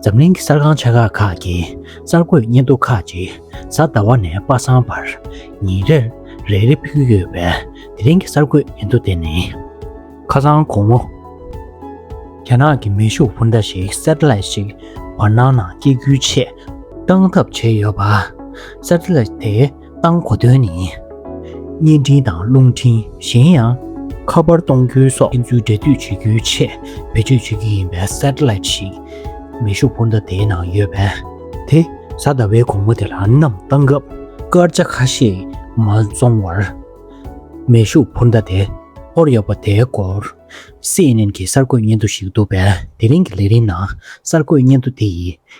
འཛམ་གླིང་གི་གསར་ཁང་ཆེ་ཁག་ཁག་གི་གསར་འགོད་བརྙན་ཐུང་ཁག་ཅིག་གཟའ་ཟླ་བ་ནས་པ་སངས་བར་ཉིན་རེར་རེ་རེ་ཕུལ་གྱི་ཡོད་པས་དེ་རིང་གི་གསར་འགོད་བརྙན་ཐུང་དེ་ནི། ཁ་སང་དགོང་མོ། རྒྱ་ནག་གི་མེ་ཤུགས་འཕུར་མདའ་ཞིག Satellite ཞིག་བར་སྣང་ནང་སྐྱེལ་རྒྱུའི་ཆེད་གཏང་ཐབས་བྱས་ཡོད་པ། Satellite དེ། བཏང་གོ་དོན་ནི། བརྙན་འཕྲིན་དང་རླུང་འཕྲིན་གཞན་ཡང། ཁ་པར་གཏོང་རྒྱུའི་སོགས་ཕན་ཚུན་སྦྲེལ་མཐུད་བྱེད་རྒྱུའི་ཆེད་བེད་སྤྱོད་བྱེད་རྒྱུ་ཡིན་པའི Satellite ཞིག་མེ་ཤུགས་འཕུར་མདའ་དེའི་ནང་ཡོད་པས། དེ་གཟའ་ཟླ་བའི་དགོང་མོ་དེ་ལ་གནམ་བཏང་སྐབས་སྐར་ཆ་ཁ་ཤས་མ་འཛོམས་བར། མེ་ཤུགས་འཕུར་མདའ་དེ་ཐོར་ཡོད་པ་དེའི་སྐོར CNN གྱི་གསར་འགོད་སྙན་ཐོ་ཞིག་འདུག་པས་དེ་རིང་གི་ལས་རིམ་ནང་གསར་འགོད་སྙན་ཐོ་དེ་ཡིས་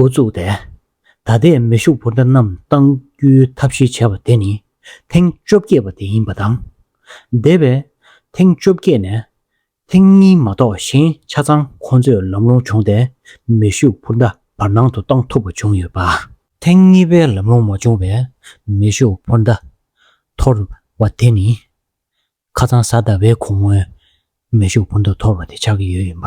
འགོ་བཙུགས་ཏེ། ད་ལྟའི་མེ་ཤུགས་འབོར་འདྲ་རྣམས་གཏང་རྒྱུའི་ཐབས་ཤེས་བྱ་བ་དེ་ནི་ཐེངས་བཅོ་བརྒྱད་པ་དེ་ཡིན་པ་དང། འདས་པའི་ཐེངས་བཅོ་བརྒྱད་ནས་ཐེངས་གཉིས་མ་གཏོགས་གཞན་ཆ་ཚང་ཁོང་ཚོས་ལམ་ལྷོང་བྱུང་སྟེ་མེ་ཤུགས་འབོར་འདྲ་བར་སྣང་དུ་གཏང་ཐུབ་པ་བྱུང་ཡོད་པ། ཐེངས་གཉིས་པའི་ལམ་ལྷོང་མ་བྱུང་བའི་མེ་ཤུགས་འབོར་འདྲ་འཐོར་བ་དེ་ནི་ཁ་ཚང་གཟའ་ཟླ་བའི་གོང་སྔོན་མེ་ཤུགས་འབོར་འདྲ་འཐོར་བ་དེ་ཆགས་ཀྱི་ཡོད་ཡིན་པ།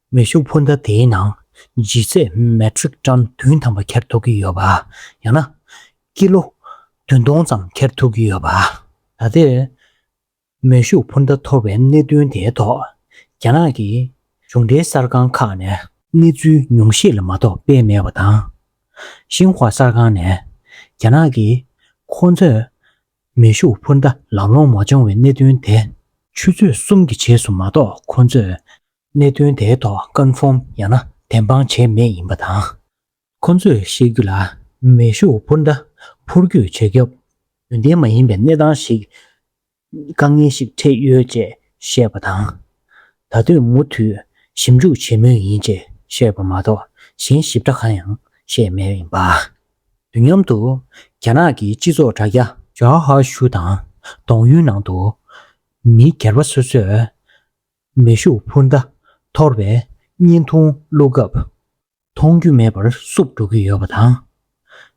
མེ་ཤུགས་འཕུར་མདའ་དེའི་ནང་ལྗིད་ཚད Metric Ton བདུན་ཐམ་པ་འཁྱེར་ཐུབ་ཀྱི་ཡོད་པ། ཡང་ན། ཀི་ལོ་བདུན་སྟོང་ཙམ་འཁྱེར་ཐུབ་ཀྱི་ཡོད་པ། ད་ལྟའི་མེ་ཤུགས་འཕུར་མདའ་འཐོར་བའི་གནད་དོན་དེའི་ཐོག་རྒྱ་ནག་གི་གཞུང་འབྲེལ་གསར་ཁང་ཁག་ནས། གནས་ཚུལ་ཉུང་ཤས་ལ་མ་གཏོགས་སྤེལ་མེད་པ་དང། ཤིན་ཧྭ་གསར་ཁང་ནས་རྒྱ་ནག་གིས་ཁོ་ཚོས་མེ་ཤུགས་འཕུར་མདའ་ལམ་ལྷོང་མ་བྱུང་བའི་གནད་དོན་དེ། ཆུ་ཚོད་གསུམ་གྱི་རྗེས་སུ་མ་གཏོགས་ཁོ་ཚོས་གནད་དོན་དེའི་ཐོག་ཀན་ཧྥོམ་ཡང་ན་བདེན་དཔང་བྱས་མེད་ཡིན་པ་དང། ཁོ་ཚོས་བཤད་རྒྱུ་ལ་མེ་ཤུགས་འཕུར་མདའ་འཕུར་རྒྱུ་བྱེད་སྐབས། ཡོན་ཏན་མ་ཡིན་པའི་གནས་སྟངས་ཤིག། དཀའ་ངལ་ཞིག་འཕྲད་ཡོད་ཅེས་བཤད་པ་དང། ད་ལྟོས་མུ་མཐུད་ཞིབ་འཇུག་བྱེད་མུས་ཡིན་ཅེས་བཤད་པ་མ་གཏོགས་གཞན་ཞིབ་ཕྲ་གང་ཡང་བཤད་མེད་ཡིན་པ། དུས་མཉམ་དུ་རྒྱ་ནག་གི་སྤྱི་ཚོགས་དྲ་རྒྱ། ཇཱའོ་ཧྭ་ཞུ་དང་ཏོང་ཡུའི་ནང་དུ་མི་སྒེར་པ་སོ་སོས་མེ་ཤུགས་འཕུར་མདའ་འཐོར་བས་བརྙན་ཐུང་བླུག་སྐབས། མཐོང་རྒྱུ་མེད་པར་བསུབ་འགྲོ་གི་ཡོད་པ་དང།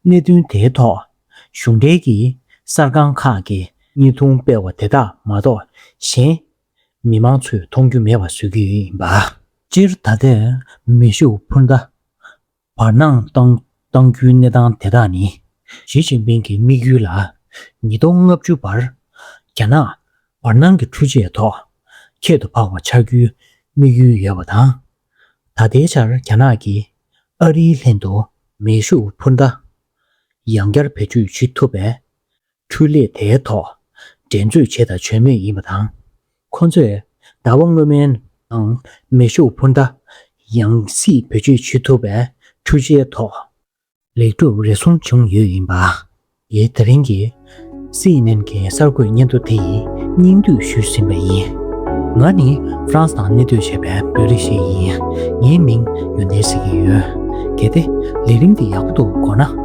གནད་དོན་དེའི་ཐོག་གཞུང་འབྲེལ་གྱི་གསར་ཁང་ཁག་གིས་བརྙན་ཐུང་སྤེལ་བ་དེ་དག་མ་གཏོགས་གཞན། མི་མང་ཚོས་མཐོང་རྒྱུ་མེད་པར་བཟོས་ཀྱི་ཡིན་པ། སྤྱིར་ད་ལྟའི་མེ་ཤུགས་འཕུར་མདའ་བར་སྣང་གཏང་རྒྱུའི་གནས་སྟངས་དེ་དག་ནི། ཞི་ཅིན་ཕིང་གི་དམིགས་ཡུལ་ལ། ཉིས་སྟོང་ལྔ་བཅུ་བར་རྒྱ་ནག་བར་སྣང་གི་འཕྲུལ་ཆས་ཐོག་ཁྱད་དུ་འཕགས་པ་ཆགས་རྒྱུའི་དམིགས་ཡུལ་ཡོད་པ་དང། ད་ལྟའི་ཆར་རྒྱ་ནག་གིས་ཨ་རིའི་ལྷན་དུ་མེ་ཤུགས་འཕུར་མདའ་ཡང་བསྐྱར་བེད་སྤྱོད་བྱེད་ཐུབ་པས། འཕྲུལ་ལས་དེའི་ཐོག་འགྲན་རྩོད་བྱེད་དང་བྱོས་མེད་ཡིན་པ་དང། ཁོ་ཚོས་ཟླ་བ་སྔོན་མའི་ནང་མེ་ཤུགས་འཕུར་མདའ་ཡང་སྲིད་བེད་སྤྱོད་བྱེད་ཐུབ་པའི་འཕྲུལ་ཆའི་ཐོག་ལེགས་གྲུབ་རེ་ཟུང་བྱུང་ཡོད་ཡིན་པ། ཡེས་ད་རིང་གི CNN གྱི་གསར་འགོད་སྙན་ཐོ་དེ་ཡིས་སྙིང་བསྡུས་ཞུས་ཟིན་པ་ཡིན། ང་ནི་ཧྥ་རན་སི་ནང་གནས་སྡོད་བྱེད་པའི་བོད་རིགས་ཤིག་ཡིན། ངའི་མིང་ཡོན་ཏན་ཟེར་གྱི་ཡོད། གལ་ཏེ་ལས་རིམ་འདི་ཡག་པོ་འདུག་གོ་ན།